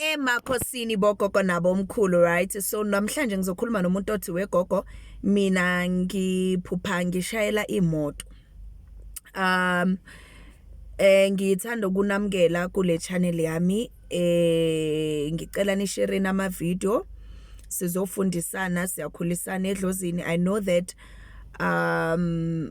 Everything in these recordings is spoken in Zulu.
emakhosini bogogo nabo omkhulu right so namhlanje ngizokhuluma nomuntu othi wegogo mina ngiphupha ngishayela imoto um eh ngithanda ukunamukela kule channel yami eh ngicela nishare nama video sizofundisana siyakhulisana edlozini i know that um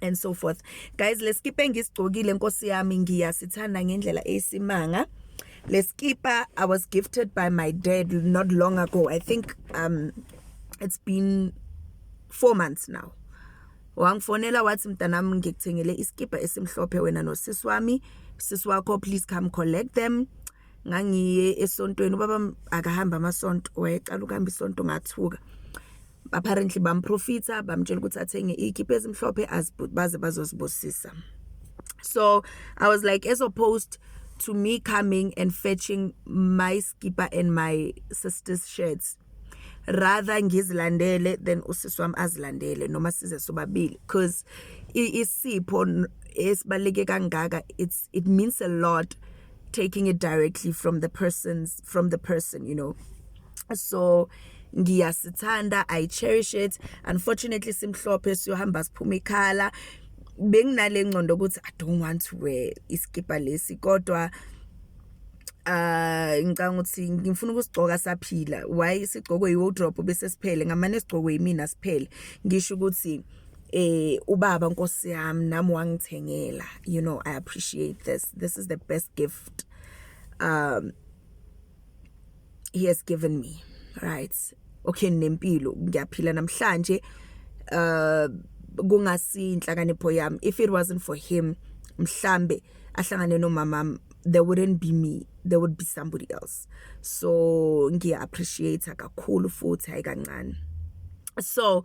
and so forth guys lesikipa engisigcokile nkosi yami ngiyasithanda ngendlela eyisimanga lesikipa i was gifted by my dad not long ago i think um it's been 4 months now wangifonela wathi mntanami ngikuthengele isikipa esimhlophe wena nosisi wami sisi wakho please come collect them ngangiye esontweni ubaba akahamba amasonto wayeqala ukuhamba isonto ngathuka apparently bamprofitha bamtshela ukuthi athenge ikhiphe ezimhlophe baze bazozibusisa so i was like as opposed to me coming and fetching my skipper and my sister's shirts rather ngizilandele then usisi wami azilandele noma size sobabili because isipho esibaleke kangaka it's it means a lot taking it directly from the person's from the person you know so ngiyasithanda i cherish it unfortunately simhlophe siyohamba siphuma ikhala benginale ngcondo ukuthi i don't want to wear iskipa lesi kodwa ah ngicanga ukuthi ngifuna ukusigcoka saphila why sigcoko iwardrobe bese siphele ngamane sigcoko yimina siphele ngisho ukuthi eh ubaba nkosi yami nami wangithengela you know i appreciate this this is the best gift um he has given me right okay nempilo ngiyaphila namhlanje uh kungasi inhlakanipho yami if it wasn't for him mhlambe ahlangane nomama there wouldn't be me there would be somebody else so ngiya appreciate kakhulu futhi hayi kancane so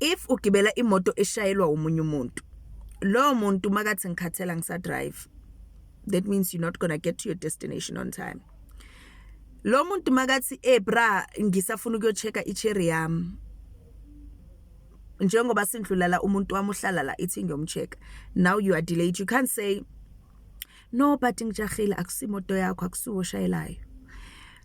if ugibela imoto eshayelwa umunye umuntu lowo muntu makathi ngikhathela ngisadrive that means you're not gonna get to your destination on time lo muntu makathi eh bra ngisafuna ukuyocheka icherry yami njengoba sindlulala umuntu wami uhlala la ithi ngiyomcheka now you are delayed you can't say no but ngijahile akusimoto yakho akusiwo shayelayo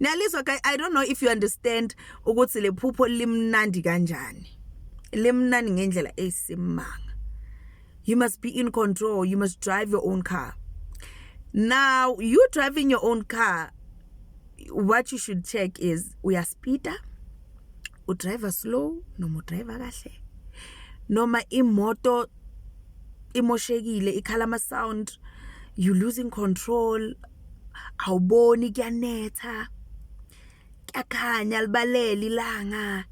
niyalizwa guy i don't know if you understand ukuthi le phupho limnandi kanjani limnandi ngendlela eyisimanga you must be in control you must drive your own car now you driving your own car what you should check is uyaspida udriver slow noma udriver kahle noma imoto imoshekile ikhala ama sound you losing control Awuboni kuyanetha kuyakhanya libalele ilanga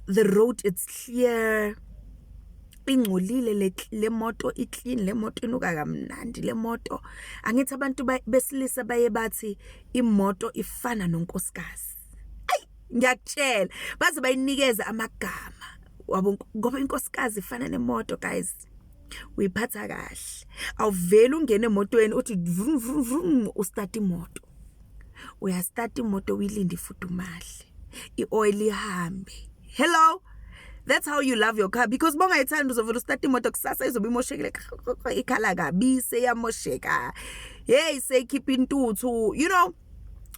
the road it's clear ingcolile le le moto i clean le moto inuka kamnandi le moto angithi abantu besilisa baye bathi imoto ifana nonkosikazi ayi ngiyakutshela baze bayinikeza amagama wabo ngoba inkosikazi ifana nemoto guys mfethu uyiphatha kahle awuveli ungena emotweni uthi vrum vrum vrum ustart imoto uyastart imoto uyilinde ifudumale ioil ihambe hello that's how you love your car because bongayithanda uzovela ustart imoto kusasa izobe imoshekile ikhala kabi seyamosheka hey seyikhipha intuthu you know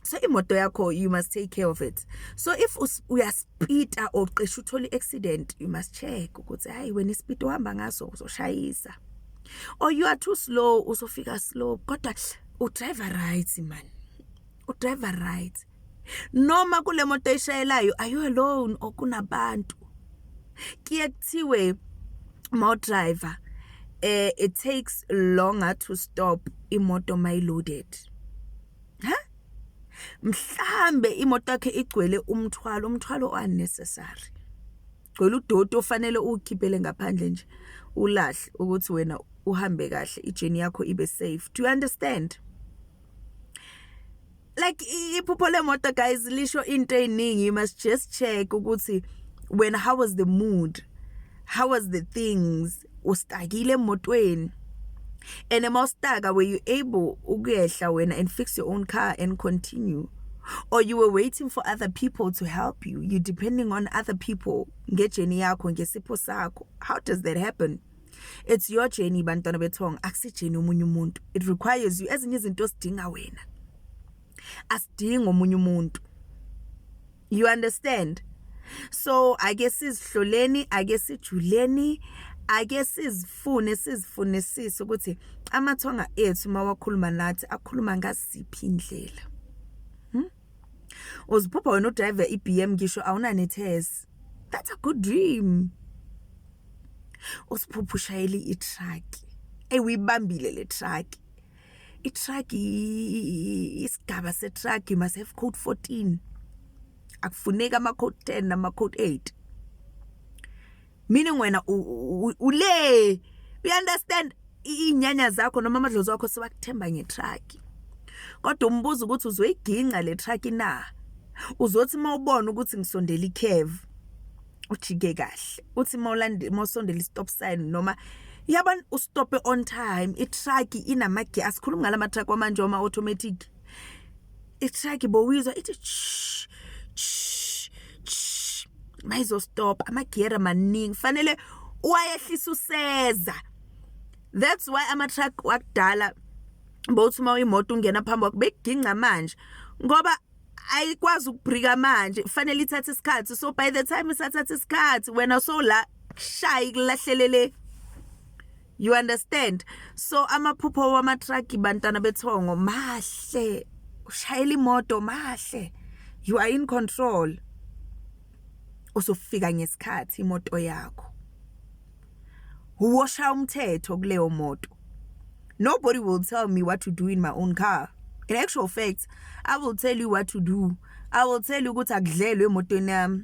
so imoto yakho you must take care of it so if uyaspita or qisha uthola iaccident you must check ukuthi hayi wena ispeed ohamba ngaso uzoshayisa or you are too slow usofika slow kodwa u driver right man u driver right noma kule moto eshayelayo are you alone or kunabantu kuye kuthiwe more driver eh it takes longer to stop imoto mayiloaded ha mhlambe imoto yakhe igcwele umthwalo umthwalo unnecessary gcwele udoti ofanele ukhiphele ngaphandle nje ulahle ukuthi wena uhambe kahle ijeni yakho ibe safe do you understand like iphupho lemoto guys lisho into eziningi you must just check ukuthi when how was the mood how was the things ustakile emotweni and uma usitaka were you able ukuyehla wena and fix your own car and continue or you were waiting for other people to help you you depending on other people ngejeni yakho ngesipho sakho how does that happen it's your journey bantwana bethonga akusijeni omunye umuntu it requires you ezinye izinto sidinga wena asidingi omunye umuntu you understand so ake sizihloleni ake sijuleni ake sizifune sizifunisise ukuthi amathonga ethu mawakhuluma nathi akhuluma ngasiphi indlela hmm? uziphupha wena udrive i-bm ngisho awunanethesi that's a good dream usiphupha ushayele itrucki eyi uyibambile le truck itruck isigaba setruck you must have code 14 akufuneki ama code 10 nama code 8 meaning wena ule you understand inyanya zakho noma amadlozi wakho siwakuthemba ngetruck kodwa umbuzo ukuthi uzoyiginqa le truck na uzothi mawubona ukuthi ngisondela icave ujike kahle uthi mawulande mawusondela istop sign noma yabani ustope on time itruck inamagi asikhulumi ngalamatra kwamanje ama automatic ithraki bowizwa ithi shh shh shh mayizostop amagiyera maningi fanele wayehlisa useza that's why ama truck wakudala bowuthi uma uyimoto ungena phambi kwakho bekugingca manje ngoba ayikwazi ukubrika manje kufanele ithathe isikhathi so by the time isathatha isikhathi wena so la shayi kulahlelele you understand so amaphupho wama truck bantana bethongo mahle ushayela imoto mahle you are in control usufika ngesikhathi imoto yakho uwosha umthetho kuleyo moto nobody will tell me what to do in my own car in actual fact i will tell you what to do i will tell you ukuthi akudlelwe emotweni yami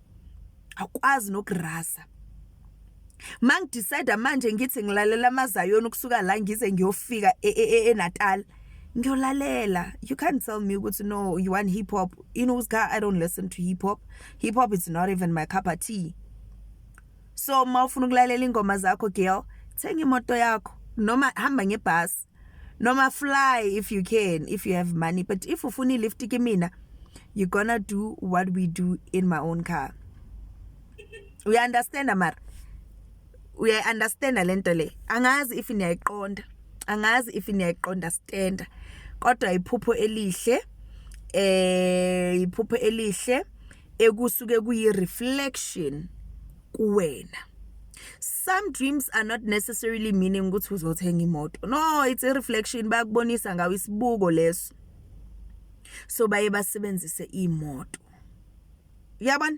akwazi nokurasa mangidecide manje ngithi ngilalela amazayona ukusuka la ngize ngiyofika e, e, e, eNatal ngiyolalela you can't tell me ukuthi no you want hip hop you know ska i don't listen to hip hop hip hop is not even my cup of tea so uma ufuna ukulalela ingoma zakho girl thenga imoto yakho noma hamba ngebhasi noma fly if you can if you have money but if ufuna ilift kimina you gonna do what we do in my own car uya understand mara uya understand lento le angazi if niyayiqonda angazi if niyayiqonda stand kodwa iphupho elihle eh iphupho elihle ekusuke kuyi reflection kuwena some dreams are not necessarily meaning ukuthi uzothenga imoto no it's a reflection bayakubonisa ngawo isibuko leso so baye basebenzise imoto yabona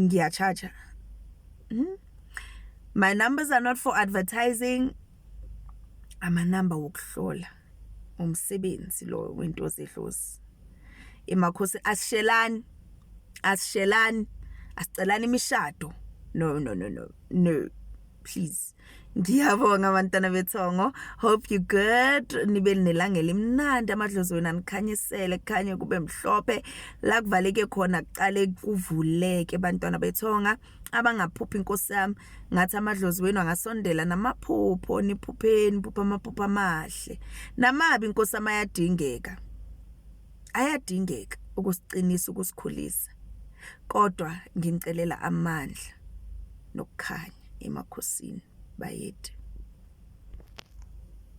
ngiyachaja hmm? my numbers are not for advertising amanamba wokuhlola umsebenzi lo wento zedlozi emakhosi asishelani asishelani asicelani imishado no no no no no please ngiyabonga abantwana bethongo hope you good nibe nelanga elimnandi amadlozi wena nikhanyisele kukhanye kube mhlophe la kuvaleke khona kuqale kuvuleke bantwana bethonga abangaphuphi inkosi yami ngathi amadlozi wenu angasondela namaphupho niphupheni phupha amaphupho amahle namabi inkosi amayadingeka ayadingeka ukusiqinisa ukusikhulisa kodwa ngincelela amandla nokukhanya emakhosini bayede.